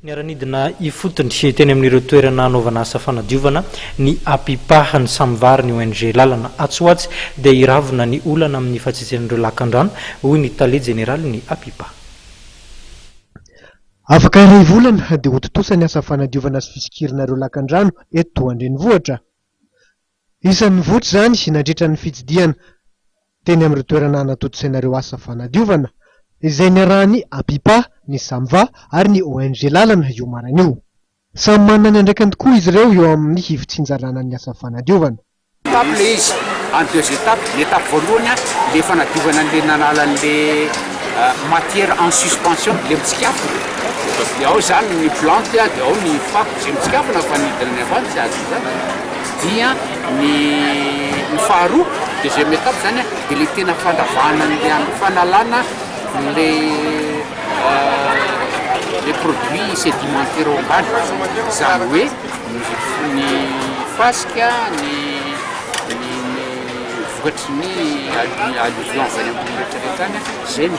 Niara-nidina ifotony teny amin'ireo toerana hanaovana asa fanadiovana ny Apipa ny samy vary ny ONG Lalana. Atsy ho atsy dia hiravona ny olana amin'ny fahatsitsian'ireo lakandrano, hoy ny tale jeneralin'ny Apipa. Afaka iray volana dia ho tontosa ny asa fanadiovana sy fisokirana ireo lakandrano eto an-drenivohitra. Isan'ny nivoitra izany nandritra ny fitsidihana teny amin'ireo toerana hanatontosaina ireo asa fanadiovana, izay niarahan'ny APIPA, ny SAMVA ary ny ONG Lalana io maraina io. Samy manana ny andraikiny tokoa izy ireo eo amin'ny hivotsin-jalàna ny asa fanadiovana. Étape ilay izy, en deux étapes, ny étape voalohany ilay fanadiovana an'ilay nanala an'ilay matière en suspension, ilay mitsikafona, dia ao izany ny plantes dia ao ny fako izay mitsikafona fa ny hidinan'ny avy any tsy azony izany. dia ny ny faharoa deuxième étape zany a de le tena fandravahana an'le an fanalana le le produit sedimentaire ao ambany zany hoe ny ny fasika ny ny ny vokatry ny allu- alluvion avy any ambony retraretra any a zay no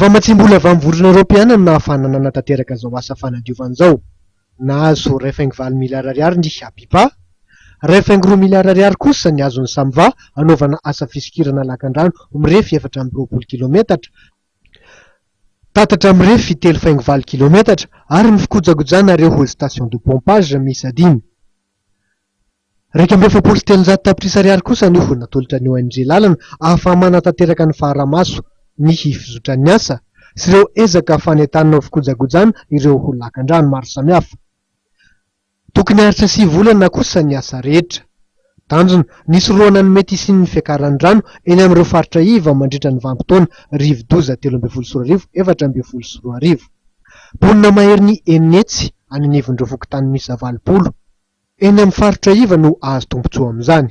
Vao matsiam-bola vao ny Vondrona Eoropeana no nahafahana nanatanteraka izao asa fanadiovana izao. Nahazo iray faingo valo miliara ariary ny HABIPA. Iray faingo roa miliara ariary kosa ny azon'ny SAMVA hanaovana asa fisokirana lakandrano mirefy efatra amby roapolo kilaometatra, tatatra mirefy telo faingo valo kilaometatra ary ny fikojakojana ireo hall station de pompage miisa dimy. Iraika amby efapolo sy telonjato tapitrisa ariary kosa ny ho natolotra ny ONG lalana ahafaha-manatanteraka ny faharamaso, ny hifizotran'ny asa sy ireo ezaka fanentanana ho fikojakojana ireo ho lakandrano maro samihafa. Tokony haharitra sivy volana kosa ny asa rehetra. Tanjona, ny hisorohana ny mety hisian'ny fiakaran'ny rano eny amin'ireo faritra iva mandritra ny vanim-potoana rivo-doza telo ambin'ny folo sy roa arivo efatra ambin'ny folo sy roa arivo. Mponina maherin'ny enina hetsy any anivon'ireo fokontany miisa valopolo. Eny amin'ny faritra iva no hahazo tombontsoa amin'izany.